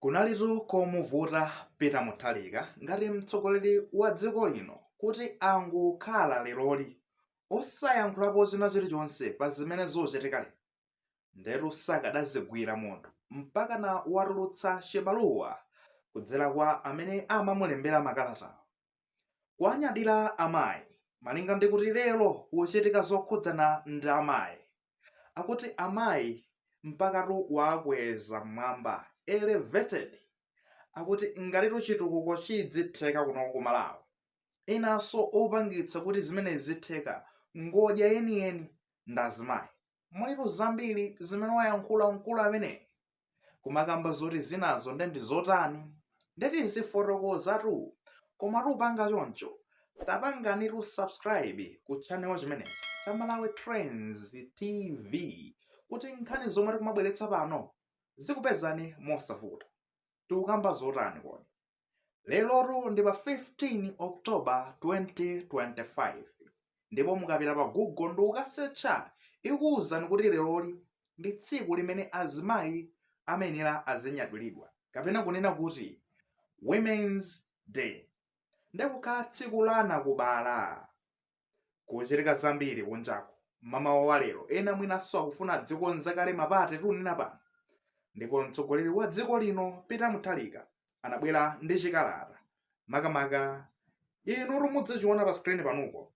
Kunalitu komuvuta Peter Mutharika ngati mtsogoleri wa dziko lino kuti angokhala leroli osayankhulapo china chilichonse pa zimene zikuchitika lero. Ndetu sakadazigwira munthu mpakana watulutsa chibaluwa kudzera kwa amene amamulembera makalatawo. Kuwanyadira amayi malinga ndi kuti lero kukuchitika zokhudzana ndi amayi, akuti amayi mpakatu kuwakweza m'mwamba, elevated, akuti ngatitu chitukuko chidzitheka kuno ku Malawi. Enanso opangitsa kuti zimenezi zitheka ngodya yeniyeni ndi azimayi. Mulitu zambiri zimene wayankhula mkulu ameneyi. kumakamba zotizinazo nde ndi zotani nde tizifotokozatu koma tisanapange choncho tapanganitu subscribe ku channel chimenechi cha malawi trends tv kuti nkhani zomwe tikumabweretsa pano zikupezani mosavuta tikukamba zotani kodi lerotu ndi pa 15 october 2025 ndipo mukapita pa google ndikukasecha ikuwuzani kuti leroli ndi tsiku limene azimayi amayenera azinyadiridwa kapena kunena kuti women's day ndikukhala tsiku la anakubala Kuchitika zambiri kunjaku mmamawa wa lero, ena mwinanso akufuna adzikonza kale mapate tiunena pano. Ndipo mtsogoleri wa dziko lino Peter Mutharika anabwera ndi chikalata makamaka inutu mudzachiona pa screen panupo,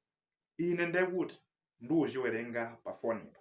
ine ndekuti ndikuchiwerenga pa fonipa.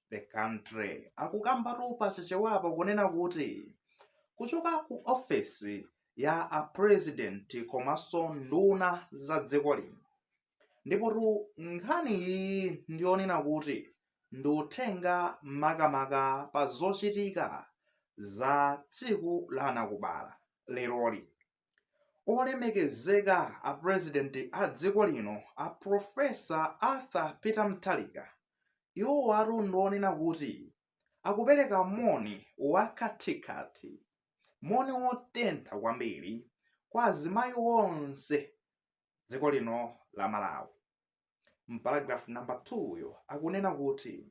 the country akukambatu pa chichewapo kunena kuti kuchoka ku ofesi ya a president komanso nduna za dziko lino ndipotu nkhani iyi ndiyonena kuti ndi uthenga makamaka pa zochitika za tsiku la anakubala leroli Olemekezeka a President a dziko lino a Professor Arthur Peter Mutharika iwowatu ndi onena kuti akupereka moni wa khathikhathi, moni wotentha kwambiri kwa azimayi onse dziko lino la Malawi. Mparagraph number 2 yo akunena kuti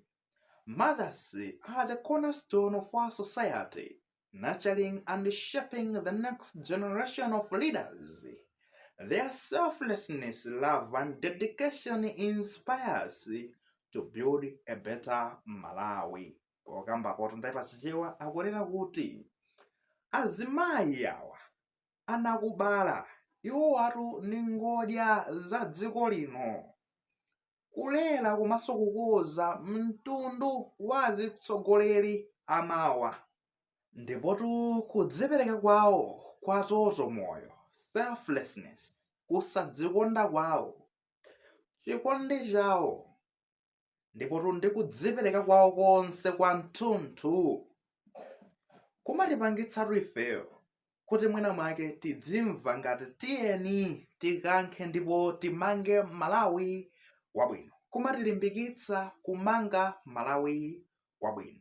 mothers are the cornerstone of our society nurturing and shaping the next generation of leaders. Their selflessness, love, and dedication inspires to build a better Malawi. Okamba koto ndaipa chichewa akunena kuti azimayi awa anakubala iwowatu ndi ngodya za dziko lino kulera komanso kukuza mtundu wa atsogoleri amawa ndipotu kudzipereka kwawo kwa totomoyo selflessness kusadzikonda kwawo chikondi chawo ndipotu ndi kudzipereka kwawo konse kwa mthunthu kumatipangitsatu ifeyo kuti mwina mwake tidzimva ngati tiyeni tikankhe ndipo timange malawi wabwino kumatilimbikitsa kumanga malawi wabwino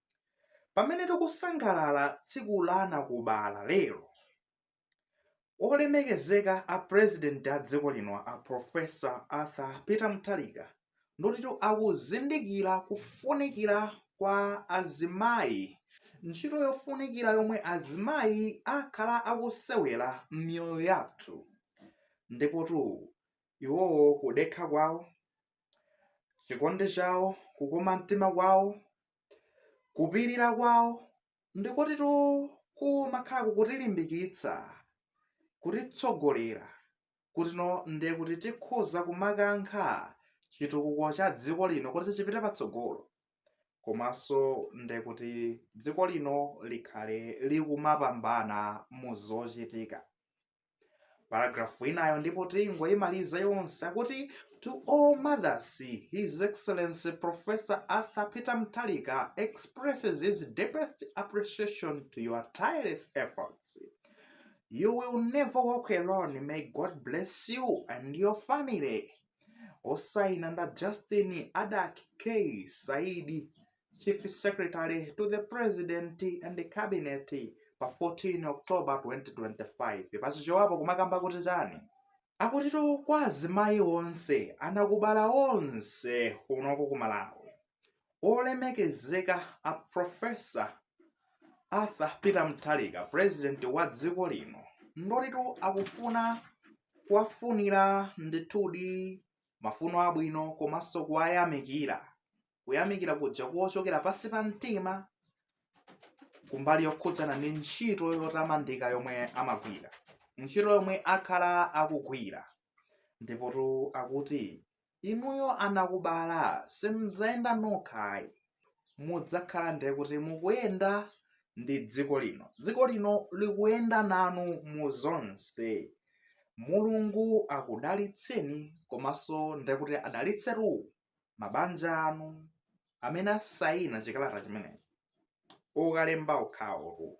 Pamene tikusangalala tsiku la anakubala lero, olemekezeka a President a dziko lino a Professor Arthur Peter Mutharika nditu akuzindikira kufunikira kwa azimayi, ntchito yofunikira yomwe azimayi akhala akusewera m'miyoyo yathu, ndipotu iwowo kudekha kwawo, chikondi chawo kukoma mtima kwawo kupirira kwawo ndikotitu kumakhala kukutilimbikitsa kutitsogolera kutinso ndiye kuti tikhoza kumakankha chitukuko cha dziko lino kuti chipite patsogolo komanso ndiye kuti dziko lino likhale likumapambana mu zochitika paragrafu inayo ndipo tingoyimaliza yonse akuti to all mothers his excellency professor arthur peter mtalika expresses his deepest appreciation to your tireless efforts you will never walk alone may god bless you and your family osaina nda justin adak k saidi Chief Secretary to the President and the Cabinet pa 14 October 2025 pachichewapo kumakamba kuti chani akutitu kwa azimayi onse anakubala onse kunoko ku Malawi olemekezeka a Professor Arthur Peter Mutharika president wa dziko lino ndotitu akufuna kuwafunira ndithudi mafuno abwino komanso kuwayamikira kuyamikira kuja kochokera pansi pa mtima kumbali yokhudzana ndi ntchito yotamandika yomwe amagwira ntchito yomwe akhala akugwira ndipotu akuti inuyo anakubala simudzayenda nokhayi mudzakhala ndiye kuti mukuyenda ndi dziko lino dziko lino likuyenda nanu mu zonse mulungu akudalitseni komanso ndekuti adalitsetu mabanja anu amene asayina chikalata chimeneyi kulemba kwawoko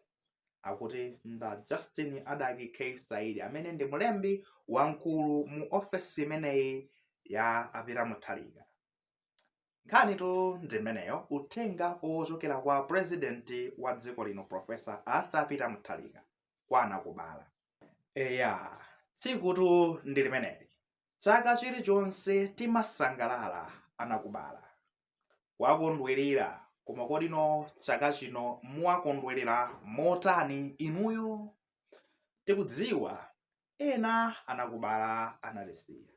akuti ndi a justin adack k saidi amene ndi mlembi wamkulu mu ofesi imeneyi ya a peter muthalika nkhanitu ndi imeneyo uthenga ochokera kwa purezidenti wa dziko lino profesa arthur peter muthalika kwa anakubala eya tsikutu ndi limeneli chaka chilichonse timasangalala anakubala kuwakondwerera koma kodinso chaka chino muwakondwerera motani inuyo tikudziwa ena anakubala anatisiya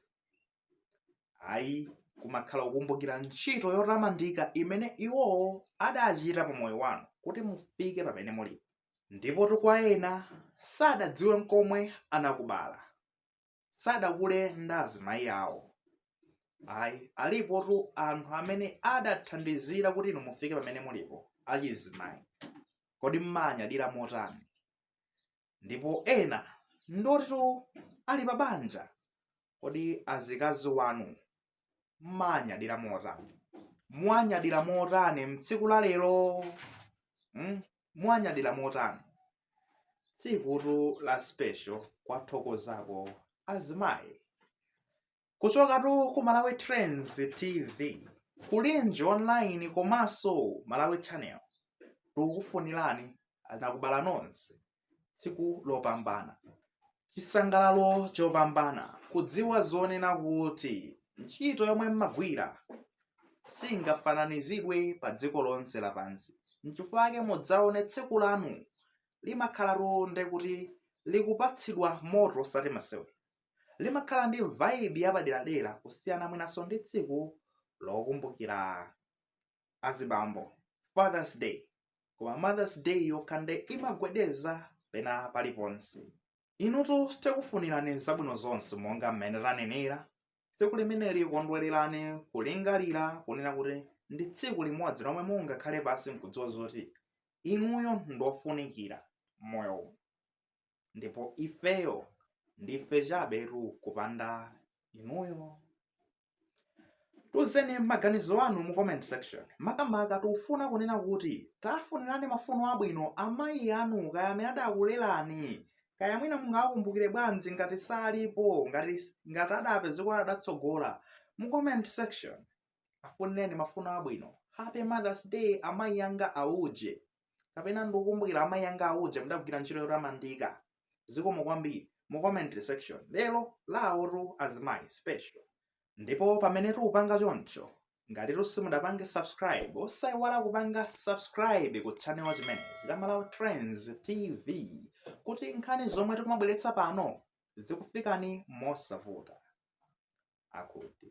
ayi kumakhala kukumbukira ntchito yotamandika imene iwowo adachita pa moyo wanu kuti mufike pamene mulipo ndipotu kwa ena sadadziwe nkomwe anakubala sadakule ndi azimayi awo ayi alipotu anthu amene adathandizira kuti inu mufike pamene mulipo achizimayi kodi mmanyadira motani ndipo ena ndoti ali pa banja kodi azikazi wanu mmanyadira motani mwanyadira motani mtsiku la lero hmm? mwanyadira motani tsikutu la special kuwathokozako azimayi Kuchokatu ku Malawi Trends TV, Kulinji Online komanso Malawi Channel, tikukufunirani anakubala nonse tsiku lopambana, chisangalalo chopambana, kudziwa zonena kuti ntchito yomwe mmagwira singafananizidwe pa dziko lonse lapansi. Nchifukwa chake mudzaone tsiku lanu limakhalatu nde kuti likupatsidwa moto osati masewera. limakhala ndi vibe yapaderadera kusiyana mwinaso ndi tsiku lokumbukira azibambo fathers day koma mothers day yokha nde imagwedeza pena paliponse inutu tikufunirani zabwino zonse monga mmene tanenera tsiku limeneli kukondwerera ndi kulingalira kunena kuti ndi tsiku limodzi lomwe mungakhale pansi nkudziwa zoti inuyo ndofunikira moyo ndipo ifeyo ndife chabetu kupanda inuyo tuzeni maganizo anu mu comment section makamaka tikufuna kunena kuti tafunirani mafuno abwino amayi anu kaya amene adakulerani kaya mwina mungawakumbukire bwanji ngati salipo ngati adapezeka kuti adatsogola mu comment section afunireni mafuno abwino happy mothers day amayi anga auje kapena ndikukumbukira amayi anga auja mudagwira ntchito yotamandika zikomo kwambiri mu comment section lero lawotu azimayi special ndipo pamene tikupanga choncho ngatitu simudapange subscribe osaiwala kupanga subscribe ku channel chimenechi cha malawi trends tv kuti nkhani zomwe tikumabweretsa pano zikufikeni mosavuta akuti